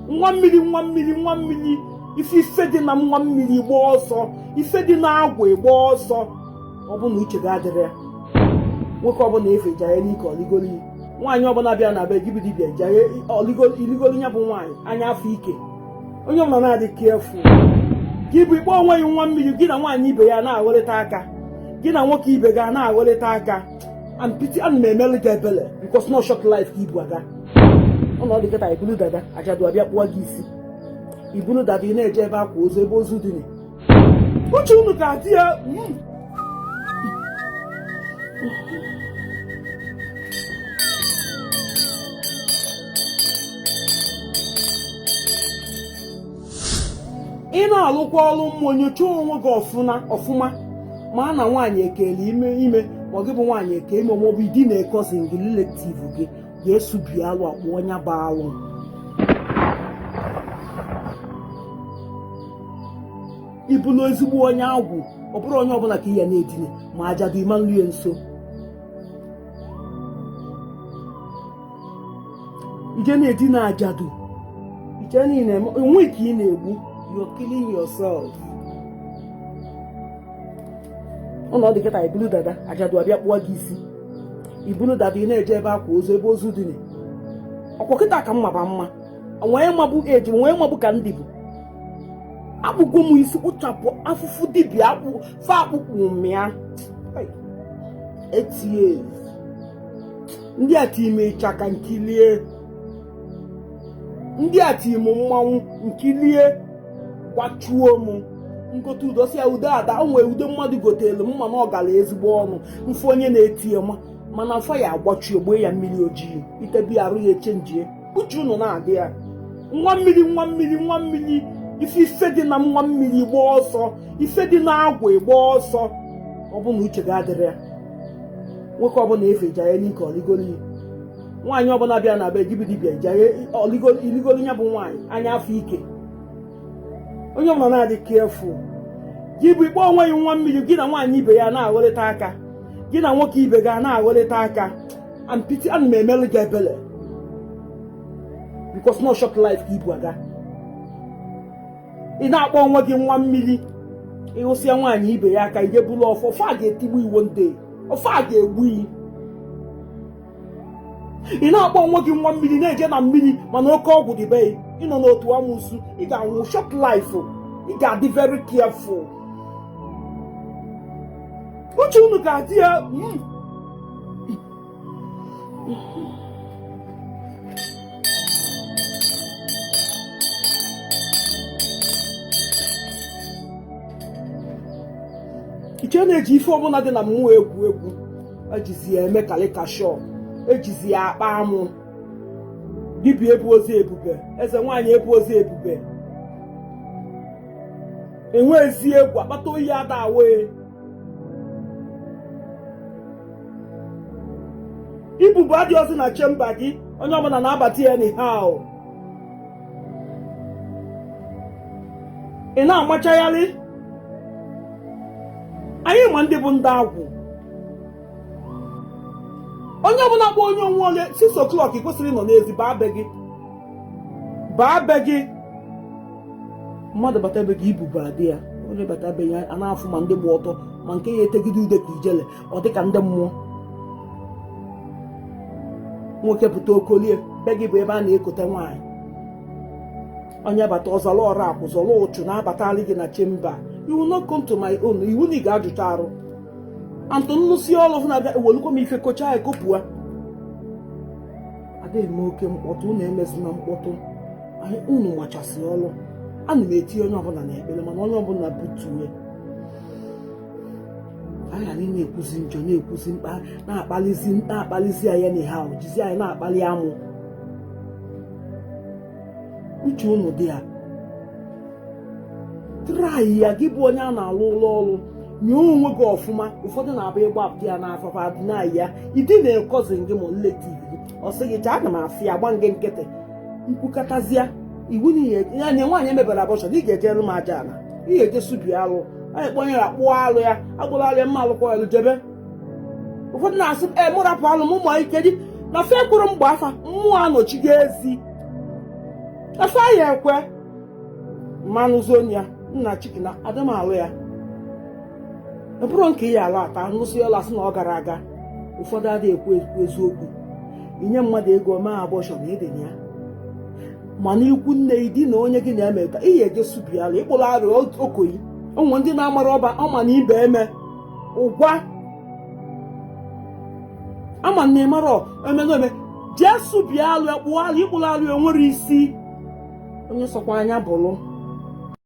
nwa mmiri nwa mmiri nwa mmiri ife ife dị na nwa mmiri gbaa ọsọ ife dị na agwụ agbaa ọsọ ọ bụ na uche gị adịrọ ya nwoke ọbụla efe jaya n'ike oligoli nwaanyị ọbụla bịa na be gị bụ dibịa iligoli ya bụ nwaanyị anya afọ ike onye ọbụla na-adị careful gị bụ ị kpọ onwe gị nwa mmiri gị na nwaanyị ibe gị a na-agholịta aka gị na nwoke ibe gị a na-agholịta aka and pity ana m emelụ gị ebele because na ọ short life ka ibu aga ọ na ọ dị kịta ibulu dada ajadu abịa kpụọ gị isi ibulu dada ị na-eje ebe akwa ozu ebe ozu dina uche unu ka adị ya hmm. ị na-alụkwa ọrụ mmụọ nyochaa onwe gị ọfụma ọfụma ma na nwaanyị ekelu ime ma ọ gị bụ nwaanyị eke ime maọbụ idina cousin gị relative gị ga-esubi alụ akpụ onye bụ alụ ị bụlụ ezigbo onye agwụ ọ bụrọ onye ọbụla ka ị ya na-edina ma ajadu ị ma na-eru ya nso ije na-edina ajadu iche na ị na-eme onwe gị ka ị na-egbu you're killing yourself ọ na ọ dị kịta ibulu dada ajadu abịa kpụọ gị isi ibulu dada ị na-eje ebe akwa ozu ebe ozu dina ọkwa kịta ka mma ba mma onwee mabụ eji onwee mabụ ka ndị bụ akpụgo m isi kpụchapụ afụfụ dibịa akpụ fa akpụkpụ mịa etie ndị a tie m ịchaka m kilie ndị a tie m mmanwụ m kilie gbachuo m m gote ude si ya ude ada o nwee ude mmadụ gotelu m ma na ọ galụ ezigbo ọnụ m fụ onye na-ete ya ma mana afọ ya agbachi ogbe ya mmiri ojii itebe arụ ya echenjie uche unu na-adị ya nwa mmiri nwa mmiri nwa mmiri ife ife dị na nwa mmiri gbaa ọsọ ife dị na agwụ agbaa ọsọ ọ bụ na uche gị adịrọ ya nwoke ọbụla efe jaye n'ike oligoli nwaanyị ọbụla bịa na be gị bụ dibịa iligoli ya bụ nwaanyị anya afọ ike onye ọbụla na-adị careful gị bụ ị kpọ onwe gị nwa mmiri gị na nwaanyị ibe gị a na-agholịta aka gị na nwoke ibe gị a na-agholịta aka and pity ana m emelụ gị ebele because na ọ short life ka ibu aga ị na-akpọ onwe gị nwa mmiri ịhụsịa nwaanyị ibe gị aka i je bulu ọfọ ọfọ a ga-etigbu gị o ndị ọfọ a ga-egbu gị ị na-akpọ onwe gị nwa mmiri na-eje na mmiri mana oke ọgwụ dị be gị ị nọ n'otu amụsụ ị ga-anwụ short life ị ga-adị very careful uche unu ga-adị ya mm. nke na-eji ife ọbụla dị na mmụọ egwu egwu ejizi ya eme caricature ejizi ya akpa amụ dibịa ebuozi ebube eze nwaanyị ebuozi ebube enweezi egwu akpata oyi ada awụ e ibubo adịọzị na chamber gị onye ọbụla na-abata ya anyhow ị na-amachagharị anyị ma ndị bụ ndị agwụ onye ọbụla kpọ onye onwe onye 6 o'clock ị kwesịrị ịnọ n'ezi baa be gị baa be gị mmadụ bata be gị ibubo adị ya onye bata be ya a na-afụ ma ndị gba ọtọ ma nke ya etegide ude ka ijele ọ dị ka ndị mmụọ nwoke pụta okolie be gị bụ ebe a na-ekote nwaanyị onye bata ọzọrọ ọrụ akwụ zọrọ ụchụ na-abatali gị na chamber iwu no come to my own iwu na ị ga-ajụcha arụ antụ nnụsi ọrụ na-abịa ewelukwa m ife kocha ya kopụa adịghị m oke mkpọtụ unu emezina mkpọtụ unu machasị ọrụ ana m etinye onye ọbụla na ekpere mana onye ọbụla butuwe aha anyị na-ekwuzi njọ na-ekwuzi mkpa na-akpalizi na-akpalizi anyị anyhow jizi anyị na-akpali amụ uche unu dị ya try ya gị bụ onye a na-alụlụ ọlụ nye onwe gị ọfụma ụfọdụ na-abụ ịgba apụ ya n'afọfa na ya ịdị na-ekọzi gị ma nleti ọ sị gị chaa ana m asị ya gba gị nkịtị ikwukatazịa iwu n'ihe ya nye nwaanyị emebere abortion na ị ga-ejere m aja ala ị ga-eje subi alụ anyị kpọnyere akpụọ alụ ya agbụrụ alụ ya mma alụkwa alụ jebe ụfọdụ na-asị m ee mụ rapụ alụ m ụmụ ike dị na fe kwuru mgbe afa mmụọ anọchigo ezi na fe ya ekwe mmanụ zonia nna chiki na adị m alụ ya ọ bụrụ nke ya ala ata nụsị ọla asị na ọ gara aga ụfọdụ adịghị ekwu ekwu eziokwu inye mmadụ ego mee abortion ịdịnya ya mana ikwu nne gị di na onye gị na-eme ka ị ya eje subi alụ ịkpụrụ arụ okoyi ụmụ ndị na-amara ọba ọma na ibe eme ụgwa ama na ịmara emenome jee sụbie alụ ya kpụọ alụ ịkpụrụ alụ ya nwere isi onye sọkwa anya bụrụ